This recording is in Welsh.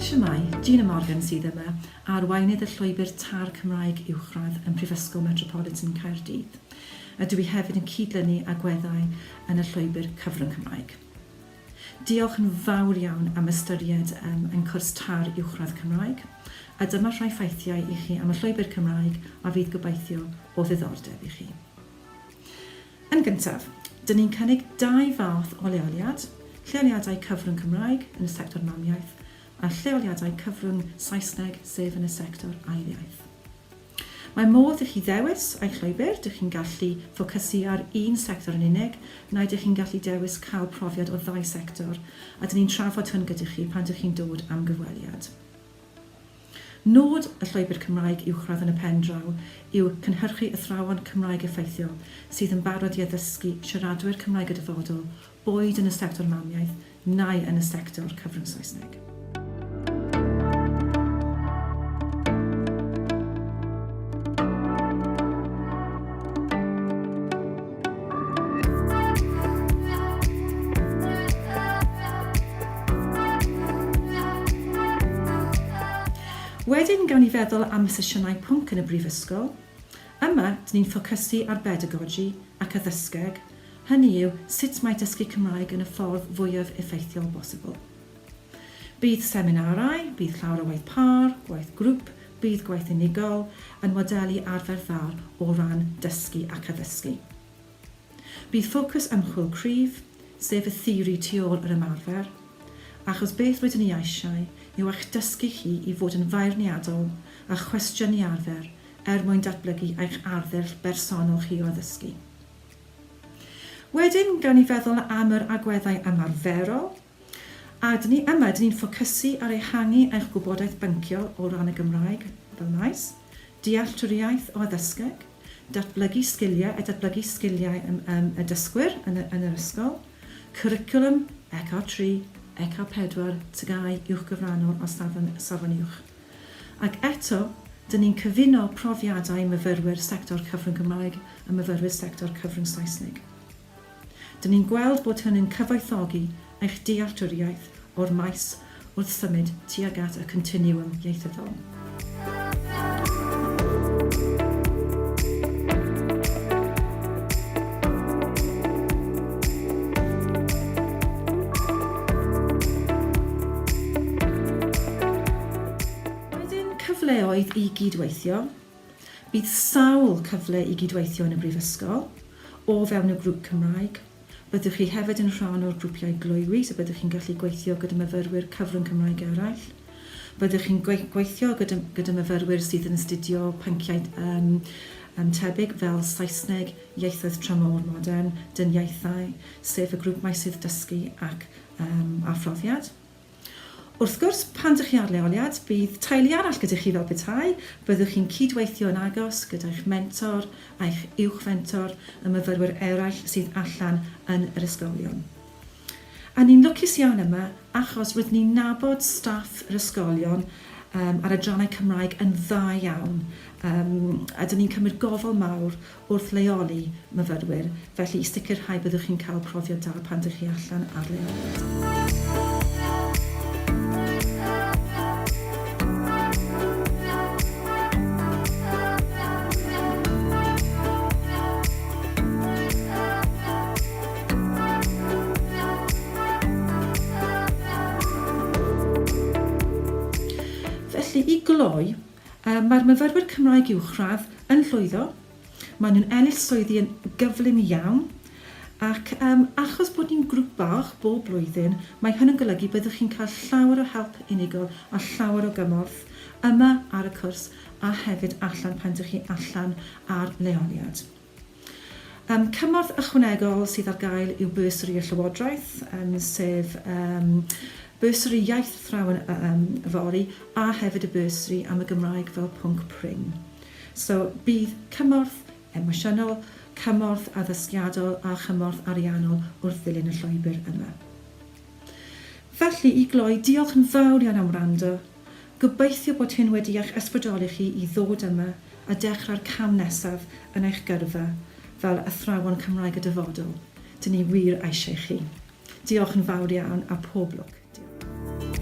Shwmae, Gina Morgan sydd yma, arweinydd y Llwybr Târ Cymraeg Uwchradd ym Mhrifysgol Metropolitan Caerdydd. A dw i hefyd yn cyd-lynu agweddau yn y Llwybr Cyfrwng Cymraeg. Diolch yn fawr iawn am ystyried yym ein cwrs tar uwchradd Cymraeg, a dyma rhai ffeithiau i chi am y llwybr Cymraeg a fydd gobeithio o ddiddordeb i chi. Yn gyntaf, dyn ni'n cynnig dau fath o leoliad, lleoliadau cyfrwng Cymraeg yn y sector mamiaith a lleoliadau cyfrwng Saesneg sef yn y sector ail iaith. Mae modd i chi ddewis eich llwybr, dych chi'n gallu ffocysu ar un sector yn unig, neu dych chi'n gallu dewis cael profiad o ddau sector, a dyn ni'n trafod hwn gyda chi pan dych chi'n dod am gyfweliad. Nod y Llwybr Cymraeg Uwchradd yn y pen draw yw cynhyrchu athrawon Cymraeg effeithiol sydd yn barod i addysgu siaradwyr Cymraeg y dyfodol boed yn y sector mamiaith neu yn y sector cyfrwng Saesneg. Wedyn, gawn ni feddwl am y sesiynau pwnc yn y Brifysgol. Yma, dyn ni'n ffocysu ar bedagogi ac addysgeg, hynny yw, sut mae dysgu Cymraeg yn y ffordd fwyaf effeithiol bosibl. Bydd seminarau, bydd llawer o waith pâr, gwaith grŵp, bydd gwaith unigol, yn modelu arfer dda o ran dysgu ac addysgu. Bydd ffocws ymchwil cryf, sef y theori tu ôl yr ymarfer, achos beth rydyn ni eisiau yw eich dysgu chi i fod yn feirniadol a chwestiynu arfer er mwyn datblygu eich arddull bersonol chi o addysgu. Wedyn, gawn ni feddwl am yr agweddau ymarferol, a dyn ni yma, dyn ni'n ffocysu ar ehangu eich gwybodaeth bynciol o ran y Gymraeg fel maes, dealltwriaeth o addysgeg, datblygu sgiliau a datblygu sgiliau yym y dysgwyr yn y yn yr ysgol, cwricwlwm, ECR tri, ECR pedwar, TGAU uwchgyfranol a safon safon uwch. Ac eto, dŷn ni'n cyfuno profiadau myfyrwyr sector cyfrwng Cymraeg a myfyrwyr sector cyfrwng Saesneg. Dŷn ni'n gweld bod hynny'n cyfoethogi eich dealltwriaeth o'r maes wrth symud tuag at y continiwm ieithyddol. cyfleoedd i gyd-weithio. Bydd sawl cyfle i gyd-weithio yn y Brifysgol, o fewn y grŵp Cymraeg. Byddwch chi hefyd yn rhan o'r grwpiau gloywi, so byddwch chi'n gallu gweithio gyda myfyrwyr cyfrwng Cymraeg eraill. Byddwch chi'n gweithio gyda, gyda myfyrwyr sydd yn astudio pynciau um, um, tebyg fel Saesneg, ieithoedd tramor modern, dyniaethau, sef y grŵp meysydd dysgu ac yym a phrofiad. Wrth gwrs, pan dych chi ar leoliad, bydd teulu arall gyda chi fel petai, byddwch chi'n cyd-weithio yn agos gyda'ch mentor, a'ch uwch fentor, y myfyrwyr eraill sydd allan yn yr ysgolion. A ni'n lwcus iawn yma achos rydyn ni'n nabod staff yr ysgolion yym a'r adrannau Cymraeg yn dda iawn yym a dyn ni'n cymryd gofal mawr wrth leoli myfyrwyr, felly i sicrhau byddwch chi'n cael profiad da pan dych chi allan ar leoliad. Felly, i gloi, mae'r myfyrwyr Cymraeg Uwchradd yn llwyddo, maen nhw'n ennill swyddi yn gyflym iawn, ac achos bod ni'n grŵp bach bob blwyddyn, mae hyn yn golygu byddwch chi'n cael llawer o help unigol a llawer o gymorth yma ar y cwrs a hefyd allan pan dych chi allan ar leoliad. Yym, cymorth ychwanegol sydd ar gael yw bursary y Llywodraeth, yym, sef yym bursary iaith athrawon yym yfory, a hefyd y bursary am y Gymraeg fel pwnc prin. So, bydd cymorth emosiynol, cymorth addysgiadol a chymorth ariannol wrth ddilyn y llwybr yma. Felly, i gloi, diolch yn fawr iawn am wrando. Gobeithio bod hyn wedi eich ysbrydoli chi i ddod yma a dechrau'r cam nesaf yn eich gyrfa fel athrawon Cymraeg y dyfodol. Dyn ni wir eisiau chi. Diolch yn fawr iawn a pob lwc. Diolch.